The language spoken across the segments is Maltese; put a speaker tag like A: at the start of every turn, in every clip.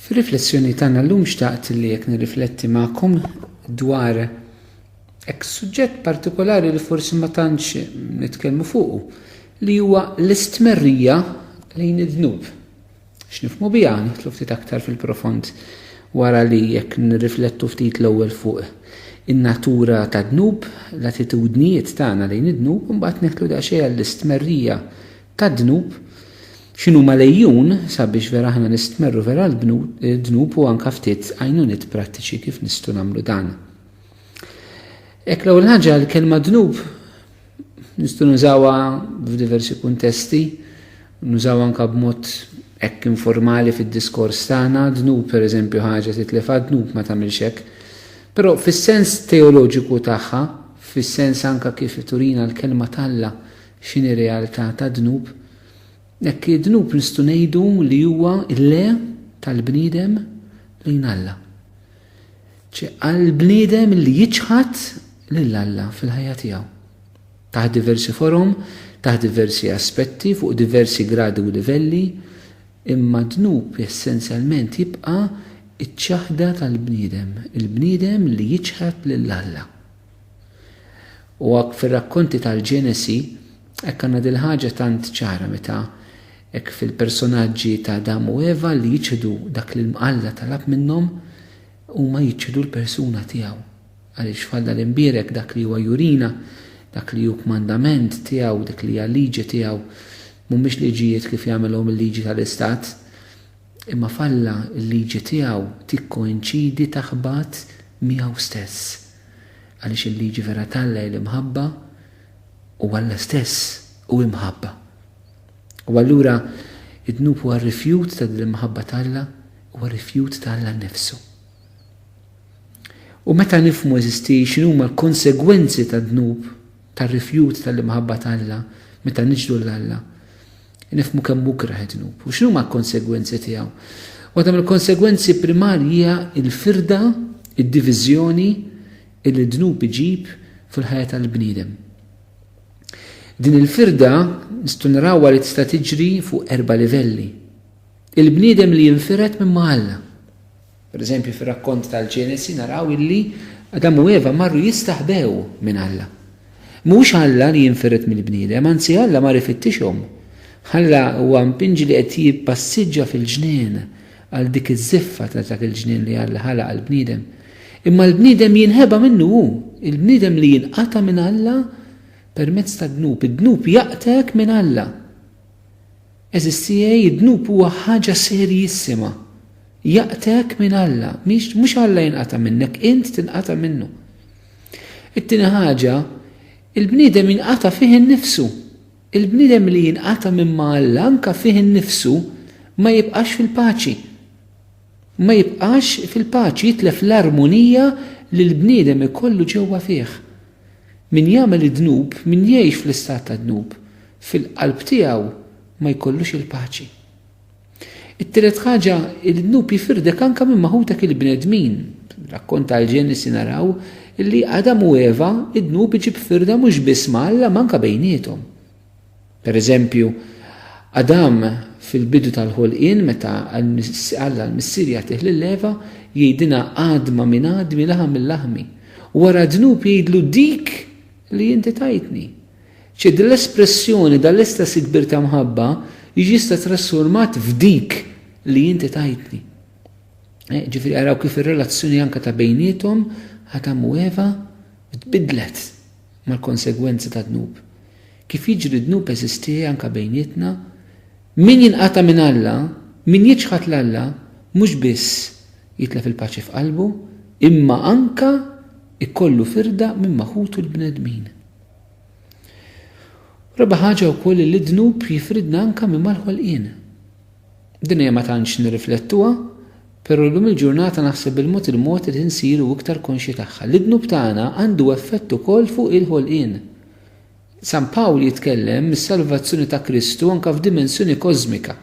A: Fir-riflessjoni tagħna llum xtaqt li jekk nirrifletti magħkom dwar hekk suġġett partikolari li forsi ma tantx nitkellmu fuqu li huwa l-istmerrija lejn id-dnub. X'nifhmu biha? Nidħlu ftit aktar fil-profond wara li jekk nirriflettu ftit l-ewwel fuq in-natura tad-dnub, l-attitudnijiet tagħna lejn id-dnub, imbagħad neħlu daqsxejn għall-istmerrija tad-dnub, x'inhuma l-għejjun sabiex vera aħna nistmerru vera l-dnub u anke ftit għajnuniet prattiċi kif nistgħu nagħmlu dan. Hekk l-ewwel ħaġa l-kelma dnub Nistgħu nużawha f'diversi kuntesti, nużaw anka b'mod hekk informali fid-diskors tagħna, dnub pereżempju ħaġa titlef għad-dnub ma tagħmilx hekk. Però fis-sens teoloġiku tagħha, fis-sens anka kif turina l-kelma t'Alla x'inhi realtà ta' dnub, hekk id-dnub nistgħu ngħidu li huwa le tal-bniedem lejn Alla. Ċi għal bniedem li jiċħad lil Alla fil-ħajja tiegħu. Taħt diversi forom, taħt diversi aspetti, fuq diversi gradi u livelli, imma d-dnub essenzjalment jibqa' ċ-ċaħda tal-bniedem, il-bniedem li jiċħad lil Alla. U għak fir-rakkonti tal-Ġenesi, hekk għandna dil-ħaġa tant ċara meta hekk fil-personaġġi ta' Adam u Eva li jiċħdu dak li Alla talab minnhom, huma jiċħdu l-persuna tiegħu. Għaliex f'Alla l-Imbierek dak li huwa jurina, dak li hu kmandament tiegħu, dik li hija liġi tiegħu, mhumiex liġijiet kif jagħmilhom il-liġi tal-istat, imma f'Alla l-liġi tiegħu tikkoinċidi taħbat miegħu stess. Għaliex il-liġi vera t'Alla hi l-imħabba u Alla stess hu imħabba. U allura d-dnub huwa rifjut ta' din l-imħabba t'Alla, huwa rifjut ta' Alla nnifsu. U meta nifhmu eżisti x'inhuma l-konsegwenzi tad-dnub, tar-rifjut tal-imħabba t'Alla, meta niġdu l-Alla, Nifhmu kemm hu kreh id-dnub. U x'inhuma l-konsegwenzi tiegħu? Waħda mill-konsegwenzi primarji hija l-firda, id-diviżjoni li d-dnub iġib fil-ħajja tal-bniedem. Din il-firda nistgħu narawha li tista' tiġri fuq erba' livelli. Il-bniedem li jinfired minn ma' Alla. Pereżempju, fir-rakkont tal-Ġenesi naraw illi Adam u Eva marru jistaħbew minn Alla. Mhux Alla li jinfired mill-bniedem, anzi Alla mar ifittixhom. Alla huwa mpinġi li qed jippassiġġa fil-ġnien għal dik iż-żiffa ta' dak il-ġnien li Alla ħalaq għall-bniedem. Imma l-bniedem jinħeba minnu hu, il-bniedem li jinqata' minn Alla permezz tad-dnub. Id-dnub jaqtgħek minn Alla. Għeżiż tiegħi, id-dnub huwa ħaġa serjissima. Jaqtgħek minn Alla, mhix, mhux Alla jinqata' minnek, int tinqata' minnu. It-tieni ħaġa, il-bniedem jinqata' fih innifsu. Il-bniedem li jinqata' minn ma' Alla anke fih innifsu ma jibqax fil-paċi. Ma jibqax fil-paċi, jitlef l-armonija li l-bniedem ikollu ġewwa fih. Min jagħmel id-dnub, min jgħix fl-istat tad-dnub, fil-qalb tiegħu ma jkollux il-paċi. It-tielet ħaġa, il-dnub jifirdek anke minn ma' ħutek il-bnedmin. Fir-rakkont tal-Ġenesi naraw li Adam u Eva id-dnub iġib firda mhux biss ma' Alla ma anke bejniethom. Pereżempju, Adam fil-bidu tal-ħolqien meta Alla l-Missier jagħtih lil Eva jgħidilha għadma minn għadmi laħam minn laħmi. Wara d-dnub jgħidlu dik li inti tajtni. Ċe din l-espressjoni, dan l-istess ikbir ta' mħabba, jista' trasformat f'dik li inti tajtni. Eh, ġifieri araw kif ir-relazzjoni anke ta' bejniethom Adam u Eva tbidlet mal-konsegwenzi ta' dnub. Kif jiġri dnub eżisti anke bejnietna, min jinqata' minn Alla, min jiċħad l Alla, mhux biss jitlef il-paċi f'qalbu, imma anke ikollu firda minn maħutu l-bnedmin. Raba' ħaġa wkoll li d-dnub jifridna anke minn mal-ħolqien. Din hija ma tantx nirriflettuha, però llum il-ġurnata naħseb il-mod il-mod li nsiru iktar konxji tagħha li d-dnub tagħna għandu effett ukoll fuq il-ħolqien. San Pawl jitkellem mis-salvazzjoni ta' Kristu anke f'dimensjoni kożmika.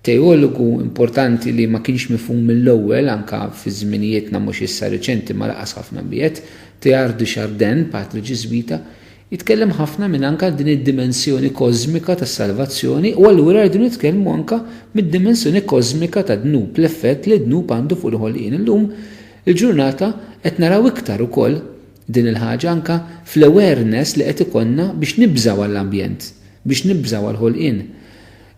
A: Teologu importanti li ma kienx mifhum mill-ewwel, anke fi żminijietna mhux issa riċenti ma laqqas ħafna biegħed, Teilhard de Chardin, patri Ġiżwita, itkellem ħafna minn anke għal din id-dimensjoni kożmika tas-salvazzjoni u allura rridu nitkellmu anke mid-dimensjoni kożmika tad-dnub, l-effett li d-dnub għandu fuq il-ħolqien. Illum il-ġurnata qed naraw iktar ukoll din il-ħaġa anke fl-awareness li qed ikollna biex nibżgħu għall-ambjent, biex nibżgħu għall-ħolqien.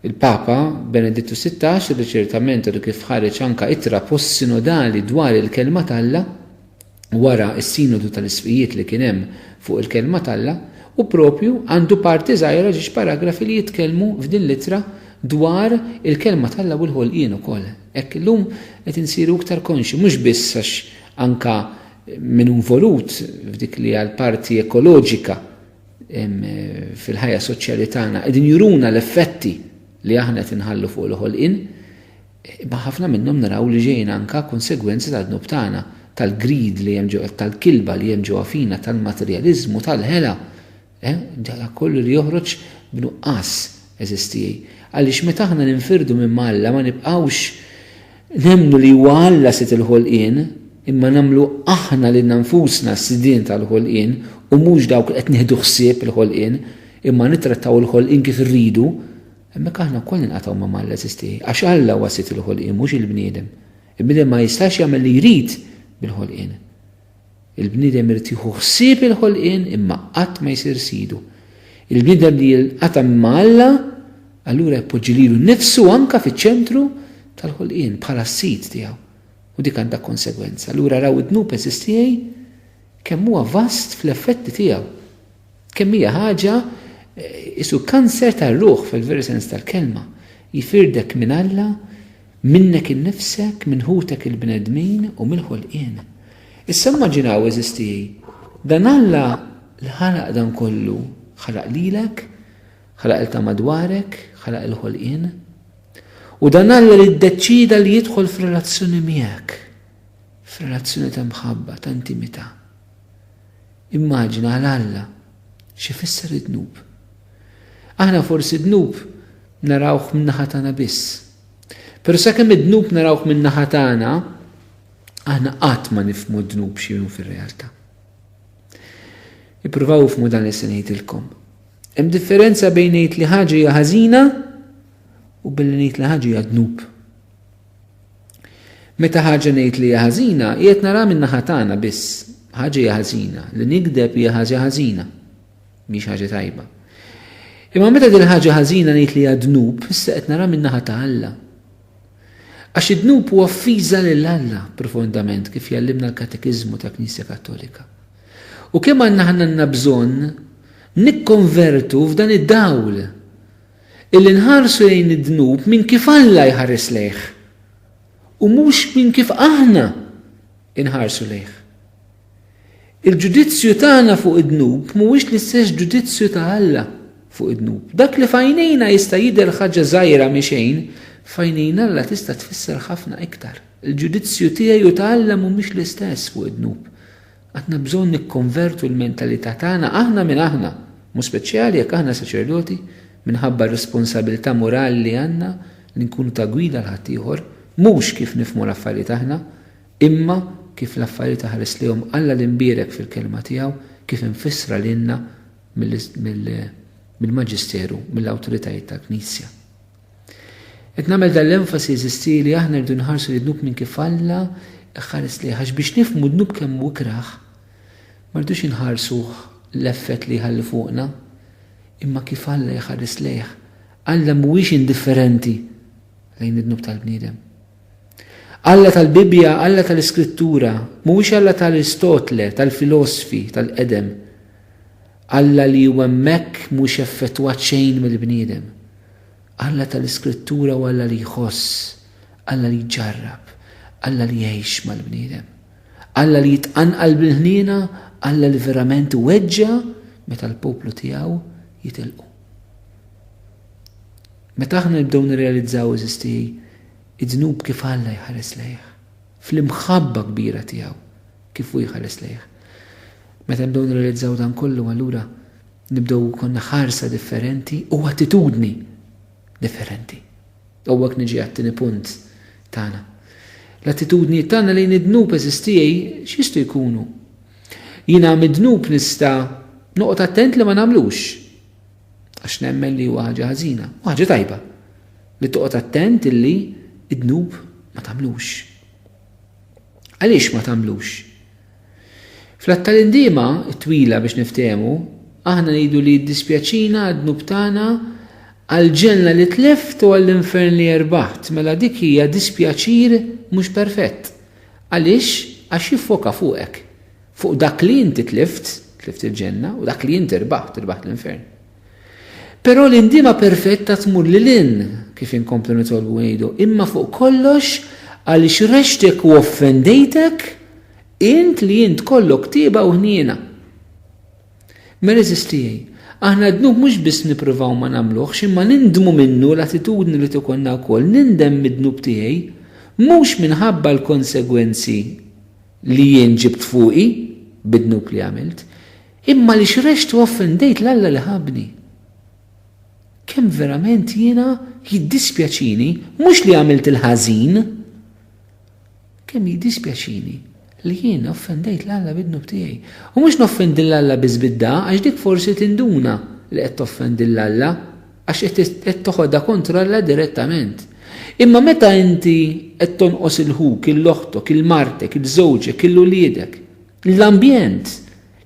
A: Il-Papa Benedittu Sittax irriċertament għadu kif ħareġ anka ittra post-sinodali dwar il-Kelma t'Alla wara s-Sinodu tal-Isqfijiet li kien hemm fuq il-Kelma t'Alla u proprju għandu parti żgħira ġiex paragrafi li jitkellmu f'din l-ittra dwar il-Kelma t'Alla u l-ħolqien ukoll. Hekk illum qed insiru iktar konxji mhux biss għax anka min hu involut f'dik li hija l-parti ekoloġika fil-ħajja soċjali tagħna qegħdin juruna l-effetti li aħna qed inħallu fuq il-ħolqien, imma ħafna minnhom naraw li ġejjin anka konsegwenzi tad-dnub tagħna, tal-grid li hemm ġewwa, tal-kilba li hemm ġewwa fina, tal-materjaliżmu, tal-ħela. Eh, Dala kollu li joħroġ b'nuqqas eżistijaj. Għaliex meta aħna ninfirdu minn Alla ma nibqgħux Nemmnu li huwa Alla Sid il-ħolqien, imma nagħmlu aħna lilna nfusna s-sidien tal-ħolqien u mhux dawk li qed nieħdu ħsieb il-ħolqien, imma nittrattaw il-ħolqien kif irridu, hemmhekk aħna wkoll ninqatgħu ma' Alla eżistieħi, għax Alla huwa Sid il-ħolqien mhux il-bniedem. Il-bniedem ma jistax jagħmel li jrid bil-ħolqien. Il-bniedem irid jieħu ħsieb il-ħolqien imma qatt ma jsir sidu. Il-bniedem li jinqata' ma' Alla allura jpoġġi lilu nnifsu anke fiċ-ċentru tal-ħolqien bħala s-sid tiegħu u dik għandha konsegwenza. Allura raw id-dnub, għeżież tiegħi, kemm huwa vast fl-effetti tiegħu. Kemm hija ħaġa isu kanser tar-ruħ fil-veru sens tal-kelma. Jifirdek minn Alla, minnek innifsek, minn ħutek il-bnedmin u mill-ħolqien. Issa immaġinaw, għeżież tiegħi, dan Alla li ħalaq dan kollu, ħalaq lilek, ħalaq il ta' madwarek, ħalaq il-ħolqien. U dan Alla li ddeċieda li jidħol f'relazzjoni miegħek, f'relazzjoni ta' mħabba, ta' intimità. Immaġina għal Alla x'ifisser id-dnub. Aħna forsi d-dnub narawh min-naħa tagħna biss. Però sakemm id-dnub narawh min-naħa tagħna, aħna qatt ma nifhmu d-dnub x'inhu fir-realtà. Ippruvaw ifhmu dan li se ngħidilkom. Hemm differenza bejn ngħid li ħaġa hija ħażina u billi ngħid li ħaġa hija dnub. Meta ħaġa ngħid li hija ħażina, qiegħed naraha min-naħa tagħna biss. Ħaġa hija ħażina. Li nigdeb hija ħaġa ħażina. Mhix ħaġa tajba. Imma meta din ħaġa ħażina ngħid li hija dnub, issa qed naraha min-naħa ta' Alla. Għax id-dnub huwa offiża lil Alla profondament kif jallimna l-Katekiżmu tal-Knisja Kattolika. U kemm għandna ħanna bżonn nikkonvertu f'dan id-dawl Illi nħarsu lejn id-dnub minn kif Alla jħares lejh, u mhux minn kif aħna nħarsu lejh. Il-ġudizzju tagħna fuq id-dnub mhuwiex l-istess ġudizzju ta' Alla fuq id-dnub. Dak li f'għajnejna jista' jidher ħaġa żgħira mi xejn, f'għajnejn Alla tista' tfisser ħafna iktar. Il-ġudizzju tiegħi u ta' Alla mhumiex l-istess fuq id-dnub. Għandna bżonn nikkonvertu l-mentalità tagħna aħna minn aħna, b'mod speċjali jekk aħna saċerdoti, minħabba r-responsabilità morali li għandna li nkunu ta' gwida għal ħaddieħor, mhux kif nifhmu l-affarijiet aħna, imma kif l-affarijiet iħares lejhom Alla l-Imbierek fil-Kelma tiegħu, kif imfissra lilna mill-Maġisteru, mill-awtoritajiet tal-Knisja. Qed nagħmel dan l-enfasi eżisti li aħna rridu nħarsu lid-dnub minn kif Alla jħares lejh għax biex nifhmu d-dnub kemm hu ikrah ma rridux inħarsu l-effett li jħalli fuqna imma kif Alla jħares lejh. Alla mhuwiex indifferenti lejn id-dnub tal-bniedem. Alla tal-Bibbja, Alla tal-Iskrittura, mhuwiex Alla tal-Aristotle, tal-filosfi, tal-qedem. Alla li hu hemmhekk mhux effettwat xejn mill-bniedem. Alla tal-Iskrittura hu Alla li jħoss, Alla li jġarrab, Alla li jgħix mal-bniedem. Alla li jitqanqal bil-ħniena, Alla li verament iweġġa' meta l-poplu tiegħu jitilqu. Meta aħna nibdew nirrealizzaw, eżisti, id-dnub kif Alla jħares lejh, fl-imħabba kbira tiegħu kif hu jħares lejh. Meta nibdew nirrealizzaw dan kollu allura Nibdew ikollna ħarsa differenti u attitudni differenti. U hawnhekk niġi għat-tieni punt tagħna. L-attitudnijiet tagħna lejn id-dnub eżiż tiegħi x'jistgħu jkunu? Jiena mid-dnub nista' noqgħod attent li ma nagħmlux għax nemmen li huwa ħaġa ħażina u ħaġa tajba li toqgħod attent illi id-dnub ma tagħmlux. Għaliex ma tagħmlux? Fl-għadd tal-indiema t-twila biex niftehmu, aħna ngħidu li jiddispjaċina għad-dnub tagħna, għall-ġenna li tlift u għall-infern li erbaħt, mela dik hija dispjaċir mhux perfett. Għaliex? Għax jiffoka fuqek, fuq dak li inti tlift, tlift il-ġenna, u dak li inti rbaħt, irbaħt l-infern. Però l-indiema perfetta tmur lil hinn, kif inkomplu nitolbu ngħidu, imma fuq kollox għaliex rexxtek u offendejtek int li int kollok tieba u ħniena. Meriżis tiegħi, aħna d-dnub mhux biss nippruvaw ma nagħmluhx imma nindmu minnu l-attitudni li tkollna wkoll nindem mid-dnub tiegħi, mhux minħabba l-konsegwenzi li jien ġibt fuqi bid-dnub li għamilt, Imma li xrext u offendejt 'l Alla li ħabbni. Kemm verament jiena jiddispjaċini, mhux li għamilt il-ħażin, kemm jiddispjaċini li jien offendejt 'l Alla bid-dnub tiegħi. U mhux noffendi 'l Alla biss bid-dagħa, għax dik forsi tinduna li qed toffendi 'l Alla, għax qed toħodha kontra Alla direttament. Imma meta inti qed tonqos 'il ħuk, 'il oħtok, 'il martek, 'il żewġek, 'il uliedek, L-ambjent,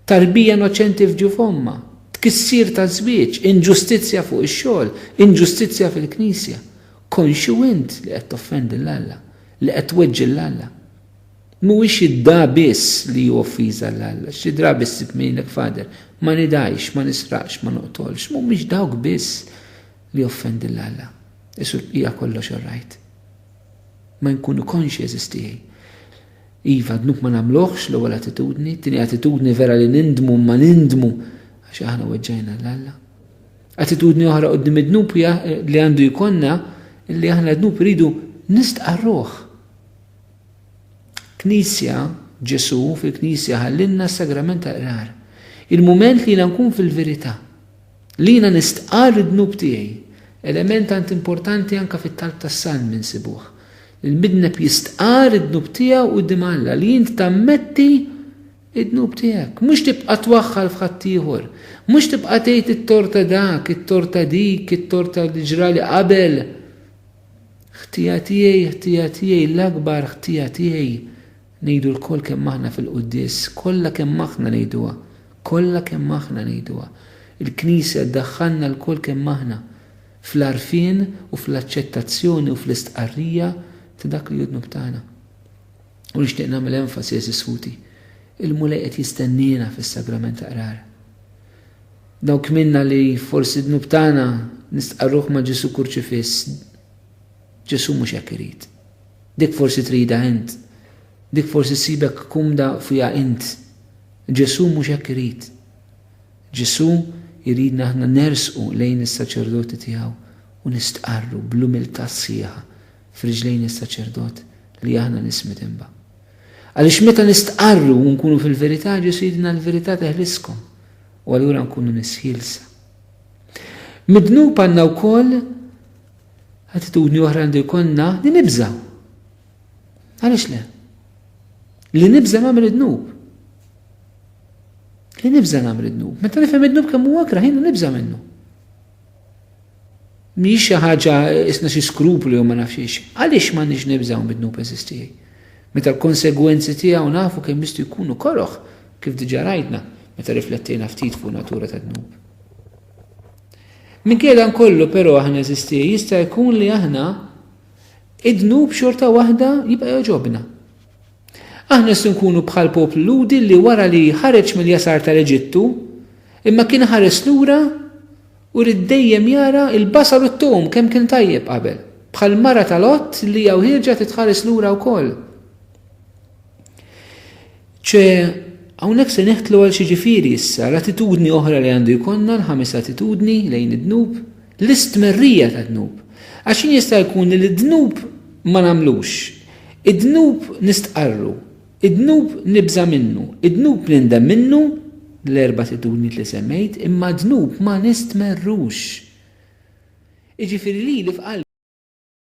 A: tarbija innoċenti f'ġuf ommha, tkissir taż-żwieġ, inġustizzja fuq ix-xogħol, inġustizzja fil-Knisja. Konxju int li qed toffendi 'l Alla, li qed tweġġi 'l Alla? Mhuwiex id-dgħa biss li hu offiża 'l Alla, xi drabi ssib min jgħidlek Father, ma nidgħix, ma nisraqx, ma noqtolx. Mhumiex dawk biss li joffendi 'l Alla. Isu l-bqija kollox orajt. Ma nkunu konxji, għeżież tiegħi. Iva, dnub ma nagħmluhx, l-ewwel attitudni. Tieni attitudni vera li nindmu imma nindmu għax aħna weġġajna l Alla. Attitudni oħra qudiem id-dnub hija li għandu jkollna li aħna dnub iridu nistqarruh. Knisja, Ġesu fil-Knisja ħallinna s-sagrament tal-qrar. Il-mument li nkun fil-verità. Li jiena nistqarr id-dnub tiegħi. Element tant importanti anke fit-talb tas-salm insibuh. Il-midneb jistqarr id-dnub tiegħu quddiem Alla, li int tammetti d-dnub tiegħek. Mhux tibqa' twaħħal f'ħaddieħor. Mhux tibqa' tgħid it-tort ta' dak, it-tort ta' dik, it-tort ta' li ġrali qabel. Ħtija tiegħi, ħtija tiegħi, l-akbar ħtija tiegħi, ngħidu lkoll kemm aħna fil-quddies, kollha kemm aħna ngħiduha, kollha kemm aħna ngħiduha. Il-Knisja ddaħħalna lkoll kemm aħna. fl-għarfien u fl-aċċettazzjoni u fl-istqarrija ta' dak li hu d-dnub tagħna. U nixtieq nagħmel enfasi, għeżież ħuti, il-Mulej qed jistenniena fis-Sagrament ta' Qrar. Dawk minna li forsi d-dnub tagħna nistqarruh ma' Ġesù kurċifiss, Ġesù mhux hekk irid. Dik forsi trida int, dik forsi sibek kumda fiha int. Ġesù mhux hekk irid. Ġesù jridna aħna nersqu lejn is-saċerdoti tiegħu u nistqarru bl-umiltà sħiħa f'riġlejn is-saċerdot li aħna nies midinba. Għaliex meta nistqarru u nkunu fil-verità Ġesù jgħidilna l-verità teħliskom u allura nkunu nies ħielsa. Mid-dnub għandna wkoll attitudni oħra għandu jkollna li nibżgħu. Għaliex le? Li nibża nagħmel id-dnub. Li nibża nagħmel id-dnub. Meta nifhem id-dnub kemm huwa kraħin u nibża minnu. Mhix xi ħaġa isna xi skruplu jew ma nafx Għaliex ma nix nibżaw mid-dnub eżistijaj? Meta l-konsegwenzi tiegħu nafu kemm jistgħu jkunu koroħ kif diġà rajtna meta riflettejna ftit fuq natura tad-dnub. Minkejja dan kollu però aħna eżistijaj jista' jkun li aħna Id-dnub xorta waħda jibqa' jogħġobna. Aħna se nkunu bħal poplu Lhudi li wara li ħareġ mill-jasar tal-Eġittu, imma kien ħares lura u ried dejjem jara l-basal u t-tom kemm kien tajjeb qabel. Bħall-mara ta' Lot li hija wħieġa trid tħares lura wkoll. ċe hawnhekk se neħtlu għal xi ġifieri issa l-attitudni oħra li għandu jkollna l-ħames attitudni lejn id-dnub l-istmerrija tad-dnub għax jien jista' jkun li d-dnub ma nagħmlux id-dnub nistqarru id-dnub nibża' minnu id-dnub nindem minnu l-erba' attitudnijiet li semmejt imma d-dnub ma nistmerrux jiġifieri li li f'qalbi